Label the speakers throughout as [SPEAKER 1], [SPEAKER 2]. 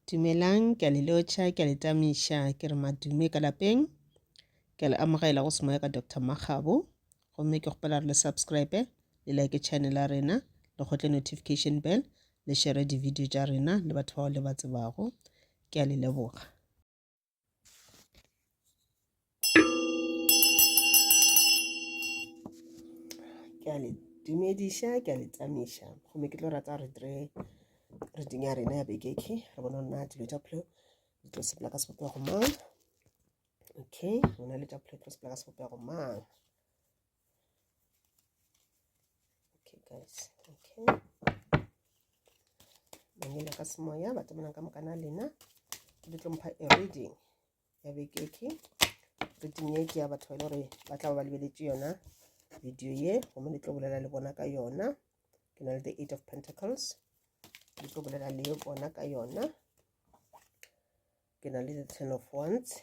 [SPEAKER 1] Dumelang, ke a le lotšha, ke a le tamiša, ke re madume ka lapeng. Ke a le amogela go semoya ka Doctor Makgabo. Gomme ke kgopela re le subscribe, le like channel ya rena, le kgotle notification bell, le share di-video tša rena le batho bao le ba tsebago. Ke a le leboga. ke a le dumediša ke a le tsamiša gomme ke tlo rata gore dire reading ya rena ya bekeke re bona nna dilo tša phelo di tlo sepela ka sebopego mang okay rona le tša phelo tlo sepela ka sebopego mang okay guys okay manyena ka semoya ba tsamayang ka mokana lena ke di tlompha e reading ya bekeke reading ye ke ya batho ba e le gore ba tla ba ba lebeletše yona video ye gomme le tlo bolela le bona ka yona ke na le the eight of pentacles le tlo bolela le bona ka yona ke na le the ten of wands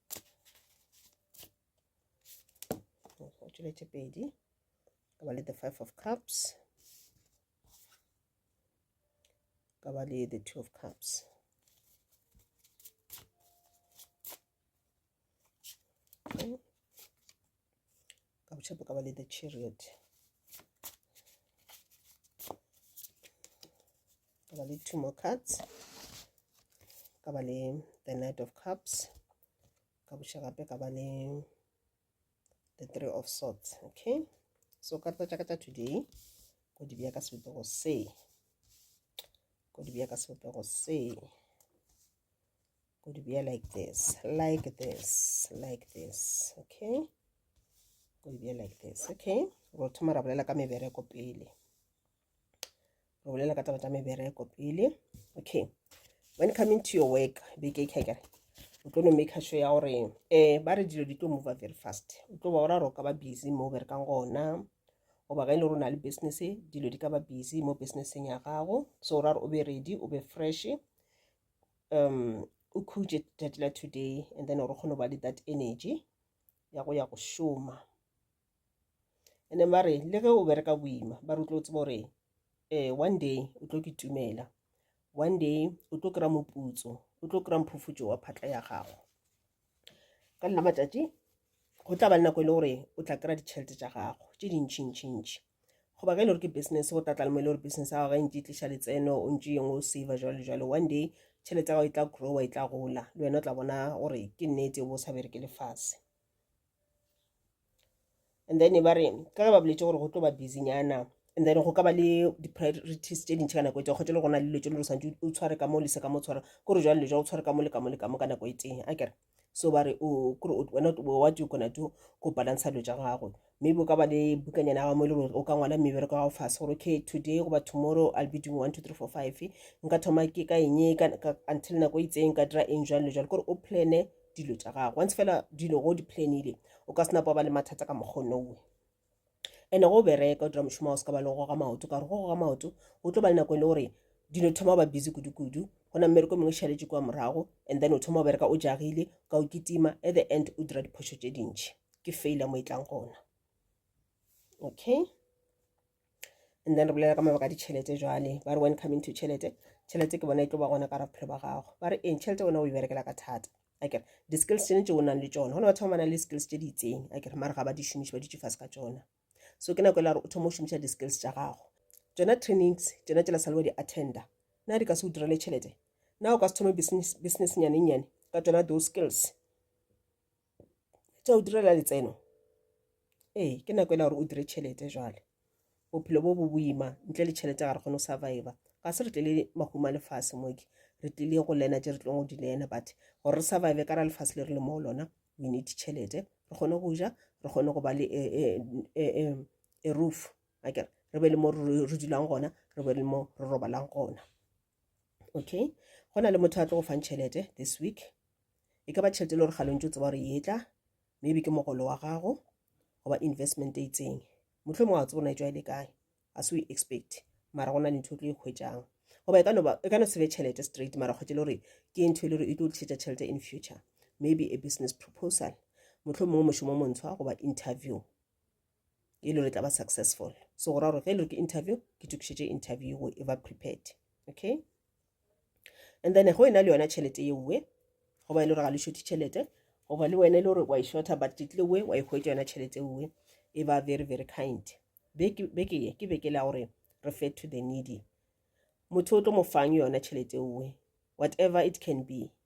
[SPEAKER 1] go tšweletše pedi ka ba le the five of cups ka ba le the two of cups okay. ka botshepo ka ba le the chariot ka ba le two more cards ka ba le the knight of cups ka boša gape ka ba le the three of swords okay so karata tša ka tša today ko di bja ka sebopego se ko di bja ka sebopego se go di bea like this like this like this okay go di bea like this okay ro thoma ra bolela ka mebereko pele re bolela ka taba tša mebereko pele okay when coming to your work beke kekere o tlo no make sure ya gore um eh, ba re dilo di tlo mova very fast o tlo ba ora gore o ka ba busy mo o berekang gona goba ge e le gore o na le business dilo di ka ba busy mo businesseng ya gago so o ra gore o be ready o be fresh um o khutše tšatši la today and then gore kgone go ba le that energy ya go ya go šoma and then ba re le ge o bereka boima ba re o tlo tseba gore um one day o tlo ke tumela one day o tlo kry-a moputso o tlo kry-a mphufutšo wa phatla ya gago ka nna matšatši go tla ba le nako e le gore o tla kry-a ditšhelete tša gago tše dintšhintšhintšhi goba ge e le gore ke business go tlatla le mo e le gore business ya gago ga e ntse e tliša letseno o ntse yengwe o save jalo jalo one day tšhelete ya gago e tla growa e tla gola le wena o tla bona gore ke nnete o bo o sa bereke lefase and then ba re ka ge ba boletse gore go tlo ba busynyana and then go ka ba le di-priorities tse dintšhi ka nako e tee kgotse le gona le dilo tse le santse o tshware ka mo lese ka mo tshware kore jwale le jwa o tshware ka mo le ka mo le ka mo ka nako e tee a kere so ba re kore wena what you gonna do go balansa dilo tša gago maybe o ka ba le bukanyana ya gago mo e le gore o ka ngwala mebereko gago fase gore okay today goba tomorrow i'll be doing one two three four five nka thoma ke ka eng until nako e itseng ka dira eng jwang le jwang kore o plane dilo tša gago once fela dilo go di planile o ka senapa ba le mathata ka mokgonowe and go bereka o dira mošomo o se ka ba le go ga maoto ka gore go go ga maoto o tlo ba le nako e le gore dilo thoma ba busy kudu-kudu go na mmereko mengwe šaletše kwa morago and then o thoma o bereka o jagile ka o kitima at the end o dira diphošo tše dintšhi ke faila mo e tlang gona okay and then re bolela ka mabaka a ditšhelete jwale ba re when coming to tšhelete tšhelete ke bona e tlo ba gona ka ra bophelo ba gago ba re eng tšhelete ona o e berekela ka thata akere di-skills tšene tse o nang le tsone gona batho ba ba nang le skills tse di itseng akere mare ga ba di šomiše ba ditše fase ka tsona so ke nako e la gore o thoma o šomiša di-skills tša gago tsona trainings tsona tšela sale wa di attenda na di ka se o direle tšhelete na o ka se thome business business nyane nyane ka tsona those skills tša go direla letseno ee ke nako e le gore o dire tšhelete jwale bophelo bo bo boima ntle le tšhelete ga re kgone go surviva ga se re tlele mahuma lefase moke re tlile go lena tse re tlong go di lena but gore re survive ka ra lefase le re le mo lona we need tšhelete re kgone go ja re kgone go ba le e, e, e, e, e roof akere re be le mo re dulang gona re be le mo re robalang gona okay go na le motho a tlo go fang tšhelete this week e ka ba tšhelete e le gore ga lontse o tseba gore e tla maybe ke mogolo wa gago goba investment e itseng motlho mongwe wa tsebo na e tswa e le kae a se o e expect mara go na le ntho o tlo e kgwetsang goba e ka no sebe tšhelete straight mara kgwetse le gore ke ntho e le gore e tlo tlisetsa tšhelete in future maybe a business proposal motlho mongwe mošomo montshwa goba interview e le re tla ba successful so go ra gore ge e le ke interview ke tokišetše interview go e ba prepared okay and then go e na le yona tšhelete ye nngwe go ba e le gore ga le šothe tšhelete go ba le wena e le gore wa e shorta but title we wa e hwetša yona tšhelete nngwe e ba very very kind beke ye ke beke la gore refer to the needy motho o tlo mo fang yona tšhelete nngwe whatever it can be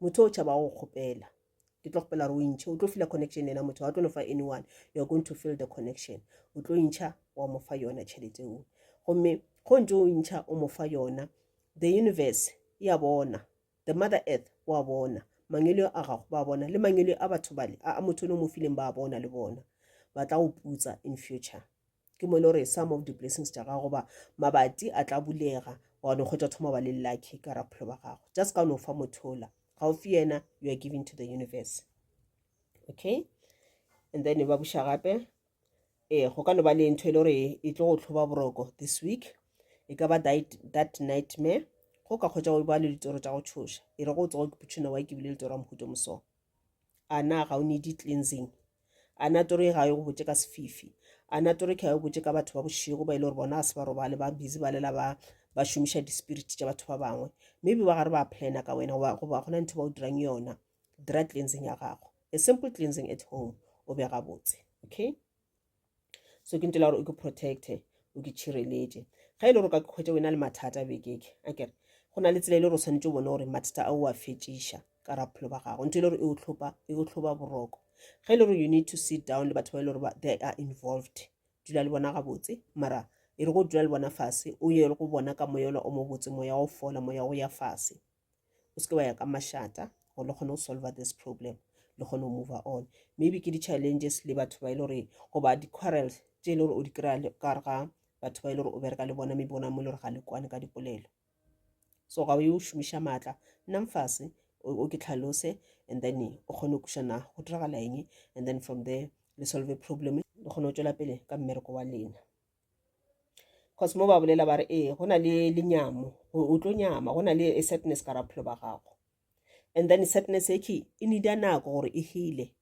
[SPEAKER 1] motho o tšhaba go kgopela ke tlo kgopela gore o intšhe o tlo fila connection ena motho ga o tlo no fa anyone you are going to fill the connection o tlo intšha wa mo fa yona tšhelete o gomme go ntse o intšha o mo fa yona the universe e a bona the mother earth o a bona mangelo a gago ba bona le mangelo a batho bale a motho o ne o mo fileng ba bona le bona ba tla go putsa in future ke mo e le gore some of di-blessings tša gago ba mabati a tla bulega wa no kgwetsa thoma ba le lucky ka raphelo ba gago just ka o no fa mothola ga o fi yena you are giving to the universe okay and then ba buša gape ee go ka no ba le ntho e le gore e tlo go tlhoba boroko this week e ka ba that nightmare go ka kgwetsa o ba le ditoro tša go tshoša e re go tsogo ke putšhina wa ke bile le toro ya mohuto mosong a na ga o need cleansing a na tori ga yo go botse ka sefifi a na tori ka yo botse ka batho ba bošego ba ile gore bona a se ba robale ba busy ba lela ba ba šomiša di-spirit tša batho ba bangwe maybe ba gare ba plana ka wena goba goba gona ntho ba o dirang yona dira cleansing ya gago a simple cleansing at home o be gabotse okay so ke ntela gore o ke protecte o ke tšhireletše ga e le gore ka kgwetše o e na le mathata bekeke a kere go na le tsela e le gore o tshwanetse o bone gore mathata a o a fetšiša ka raphelo ba gago ntho e le gore e o tlhoba e boroko ga e le gore you need to sit down le batho ba e le gore they are involved dula le bona gabotse mara e re go dula le bona fase o ye go bona ka moyolo o mobotse moya o fola moya o ya fase o seke wa ya ka mašata gore le kgone go solve this problem le kgone go move on maybe ke di-challenges le batho ba e le gore goba di-quarrels tše e le gore o di kry-a le- ka gare ga batho ba e le gore o bereka le bona maybe bona mo e le gore ga le kwane ka dipolelo so ga o ye o šomiša maatla nna mfase o o ke tlhalose and then o kgone go kuša na go diragala eng and then from there le solve problem le kgone go tšwela pele ka mmereko wa lena cause mo ba bolela ba re ee go na le lenyamo o tlo nyama go na le a sadness ka raphelo ba gago and then sadness e ke e nida nako gore e hele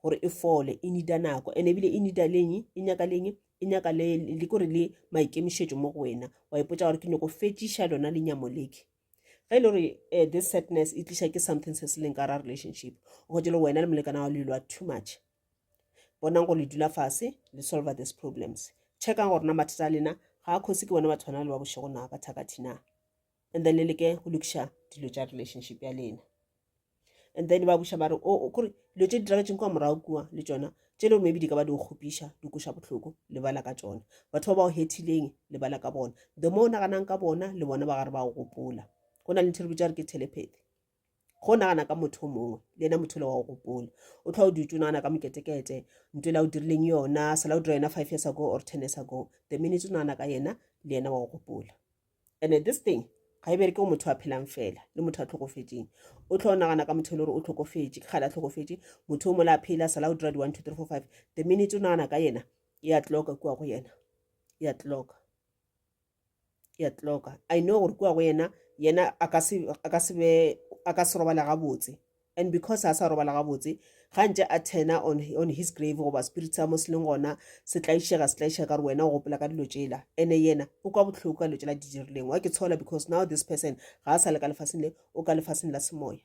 [SPEAKER 1] gore e fole e nida nako and ebile e nida leng e nyaka leng e nyaka le le kore le maikemišetšo mo go wena wa ipotsa gore ke nyoko fetšiša lona lenyamo leke ge e le gore eh, this sadness e tliša ke something se se leng ka ra relationship go jelo wena le molekana wa lelwa too much bonang gore le dula fase le solver this problems checkang gore na mathata a lena ga a kgosi ke bone batho bana le ba bošego na ba thakathi na and then le leke go lokiša dilo tša relationship ya lena and then ba buša ba re o oh, oh, kore dilo tše di diragetseng kwa morago kua le tsona tše le gore maybe di ka ba di go kgopiša di koša botlhoko lebala ka tsona batho ba ba go hethileng lebala ka bona the mo o naganang ka bona le bona ba gare ba go gopola go na le ntho re bitsa re ke telepathy go nagana ka motho o mongwe le ena motho le wa go gopola o tlhwa o dutse o nagana ka moketekete nto la o dirileng yona sala o dira yona five years ago or ten years ago the minute o nagana ka yena le ena wa go gopola and this thing ga e bereke go motho a phelang fela le motho a tlhokofetseng o tlhwa o nagana ka motho e le gore o tlhokofetse ke gale a tlhokofetse motho o mola a phela sala o dira di-one two three four five the minute o nagana ka yena e a tloka kua go yena e a tloka ya tloka i know gore kua go yena yena a ka se a ka se be a ka se robala gabotse and because a sa robala gabotse ga ntse a tena on, on his grave goba spirit sa mo se leng gona se tlaišega se tlaišega ka re wena o gopola ka dilo tsela ene yena o kwa botlhoko ka dilo tsela di dirileng wa ke tshola because now this person ga a sa le ka lefaseng le o ka lefaseng la semoya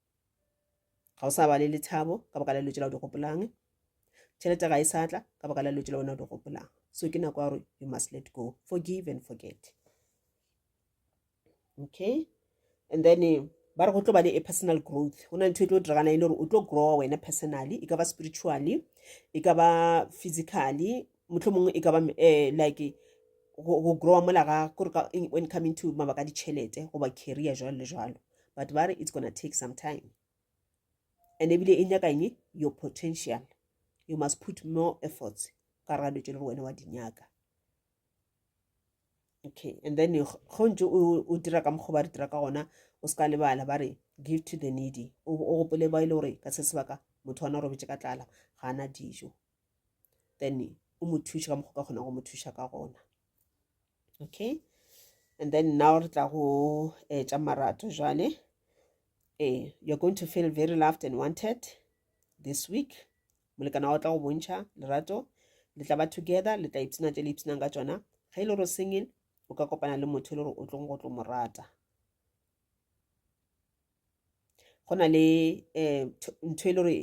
[SPEAKER 1] ga o sa ba le lethabo ka baka la dilo tšela o di gopolang tšhelete ga e sa tla ka baka la dilo tšela wena o di gopolang so ke nako ya gore you must let go forgive and forget okay and then eh, ba re go tlo ba le a personal growth go na ntho e tlo diragana e le gore o tlo growa wena personally e ka ba spiritually e ka ba physically motlho mongwe e ka ba eh, like go growa mola ga kore when coming to mabaka ditšhelete goba career jalo le jalo but ba re it's gonna take some time and ebile e nyaka eng your potential you must put more efforts ka re ga dilo tse le gore wena wa di nyaka okay and then go ntse o dira ka mokgwa ba re dira ka gona o se ka lebala ba re give to the needy o gopole ba e le gore ka se sebaka motho wana o robetse ka tlala ga ana dijo then o mo thuše ka mokgwa ka kgona go mo thuša ka gona okay and then now re tla go eh, tša marato jale eh, you're going to feel very loved and wanted this week molekana wa tla go bontšha lerato le tla ba together le tla ipshina tše le ipshinang ka tšona ge e le gore singing o ka kopana le motho e le gore o tlong go tlo mo rata go na le um ntho e le gore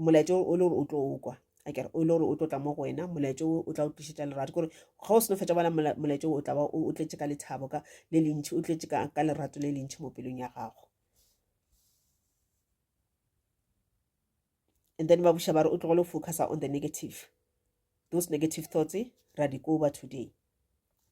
[SPEAKER 1] molaetša o le gore o tlo o kwa a kere o le gore o tlo tla mo go wena molaetša o o tla o tlišetša lerato kore ga o seno fetša bala molaetša o tla ba o tletše ka lethabo ka le lentšhi o tletše ka lerato le lentšhi mo pelong ya gago and then ba buša ba re o tlogele go focusa on the negative those negative thoughts eh, ra di koba today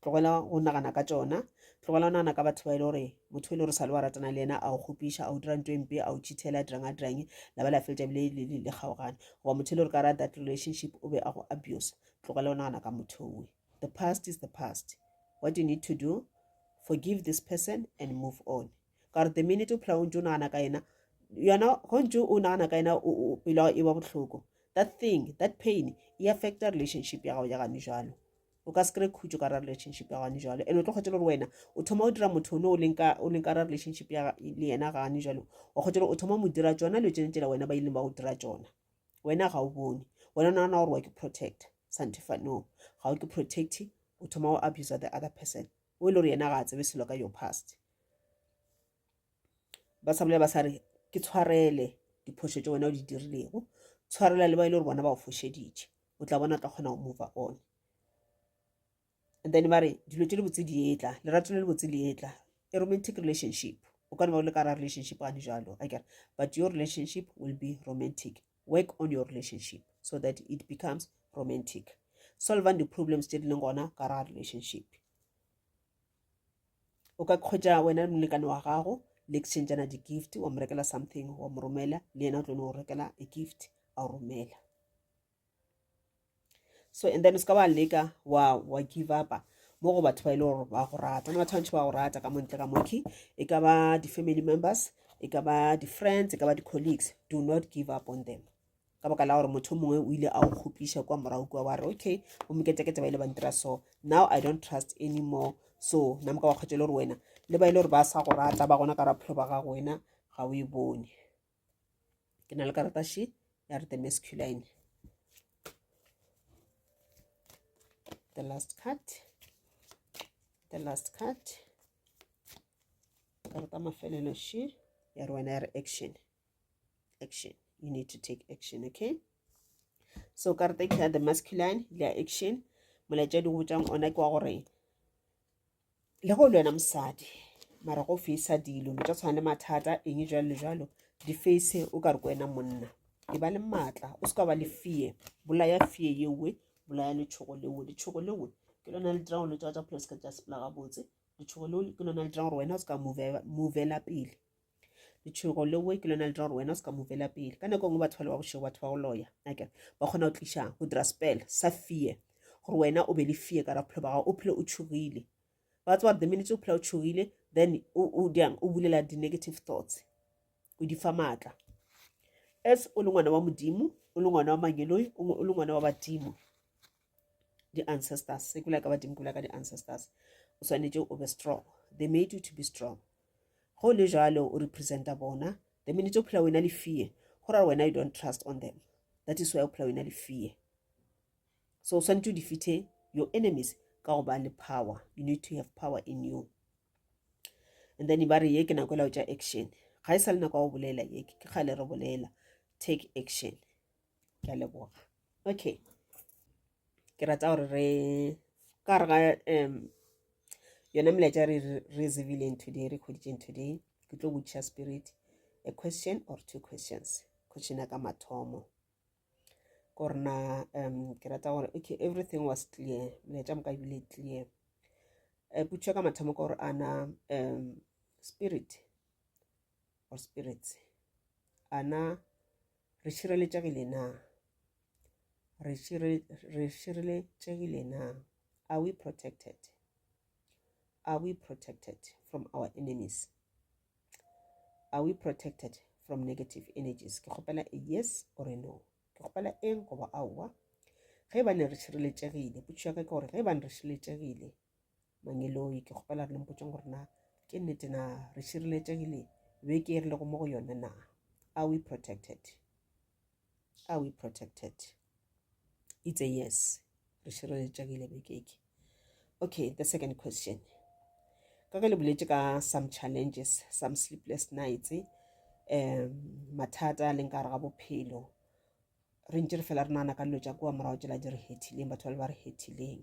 [SPEAKER 1] tlogela go nagana ka tsona tlogela go nagana ka batho ba e le gore motho e le gore sa le wa ratana le yena a o kgopiša a o dira nto e mpe a o chithela a dirang a dirang la ba la fetsa bile le kgaogane goba motho e le gore ka ra that relationship o be a go abuse tlogela go nagana ka motho owe the past is the past what you need to do forgive this person and move on ka gore the minute o phela o ntse o nagana ka yena yona go ntse o nagana ka yena pelo e ba botlhoko that thing that pain e affecta relationship ya gago ya gane jalo o ka se kry khutso ka ra relationship ya gane jalo and o tlo kgwetsa gore wena o thoma o dira motho one o leng ka ra relationship ya le yena gane jalo o kgwetsa gore o thoma mo dira tsona le tsone tsela wena ba ileng ba go dira tsona wena ga o bone wena o nagana gore wa ke protect santefano ga o ke protect o thoma o abuse the other person o e le gore yena ga a tsebe selo ka your past ba sa bolela ba sa re ke tshwarele diphošo tse wena o di dirilego tshwarela le ba e le gore bona ba o fošeditše o tla bona o tla kgona go mova on and then ba re dilo tse le botse di etla lerato le le botse le etla a romantic relationship o ka ne ba o le ka ra relationship gane jalo akere but your relationship will be romantic work on your relationship so that it becomes romantic solvang di-problems tse di leng gona ka ra relationship o ka kgwetsa wena le molekane wa gago le exchangana di-gift wa mo rekela something wa mo romela le yena o tlo no rekela a gift a romela so and then o se ka wa leka wa wa give upa mo go batho ba ile e gore ba go rata ne batho bantši ba go rata ka montle ka moki e ka ba di-family members e ka ba di-friends e ka ba di-colleagues do not give up on them ka baka la gore motho mongwe o ile a o kgopiša kwa morago kua wa re okay bomoketekete ba ile ba ntira so now i don't trust anymore so na moka wa kgwetša le gore wena le ba ile gore ba sa go rata ba gona ka raphelo ba gago wena ga o e bone ke na le karata she ya re the masculine the last card the last card karata mafelelo she ya re wena ya re action action you need to take action okay so karata ke ya the masculine le ya action molaetša di go botšang ona ke wa gore le go le wena mosadi mara go fisa dilo tsa tshwana le mathata eng jalo le jalo di face o ka re ko wena monna e ba le maatla o se ka ba le fee bolaya fee yewe bolaya letshogo lewe letshogo lewe ke lona le dirang gore letswa tsa pholo se ka tsa sepela gabotse letshogo lewe ke lona le dirang gore wena o se ka movela pele letšhogo lewe ke lona le dira gore wena o se ka mo vela pele ka nako e nngwe batho ba le ba bošego batho ba go loya ake ba kgona go tliša go dira spell sa fear gore wena o be le fear ka ra bophelo ba gago o phele o tšhogile ba tse gore the minutes o phela o tšhogile then o jang o bulela di-negative thoughts o di fa maatla as o le ngwana wa modimo o le ngwana wa mangeloi o le ngwana wa badimo di-ancestors se kula ka badimo kula ka di-ancestors o swanetše o be strong they made you to be strong go le jalo o representa bona the minute o phela wena le fear go ra wena you don't trust on them that is why o phela wena le fear so o swanetše o defeate your enemies ka go ba le power you need to have power in you and then ba re ye ke nako e lao tša action ga e sa le nako ya go bolela ye ke kgale re bolela take action ke a leboga okay ke rata gore re ka re ga um yona melaetša re re zibileng today re kgoditseng today ke tlo botšiša spirit a question or two questions question ya ka mathomo ko rena um ke rata gore okay everything was clear melaetša moka ebile clear um putšo ka mathomo ka gore ana um spirit or spirits a na re šireletšegile na re šireletšegile na are we protected are we protected from our enemies are we protected from negative energies ke kgopela a yes or a no ke kgopela eng goba aowa ge ba ne re šireletšegile potšišo ya ka ke gore ge ba ne re šireletšegile mangeloi ke kgopela re lempotšeng gore na ke nnete na re šireletšegile beke e re lego mo go yone na are we protected are we protected it's a yes re šireletšegile beke ke okay the second question ka ge le boletse ka some challenges some sleepless nights um mathata a leng ka gare ga bophelo re ntse re fela re nana ka dilo tša kua morago tsela di re hethileng batho ba le ba re hethileng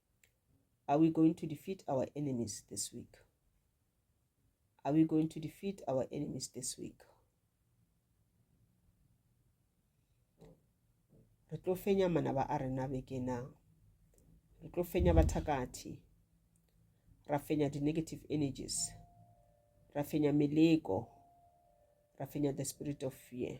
[SPEAKER 1] Are we going to defeat our enemies this week? Are we going to defeat our enemies this week? re tlo fenya manaba a rena bekena re tlo fenya bathakathi ra fenya di-negative energies ra fenya meleko ra fenya the spirit of fear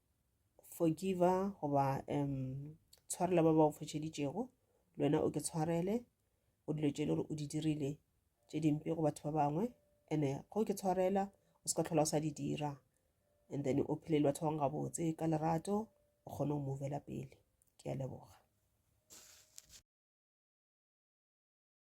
[SPEAKER 1] forgiva goba um tshwarela ba ba go fošeditšego le wena o ke tshwarele go dilo tše e le gore o di dirile tše dimpe go batho ba bangwe and-e go ke tshwarela o se ka tlhola o sa di dira and then o phele le batho ba bangwe gabotse ka lerato o kgone go movela pele ke a leboga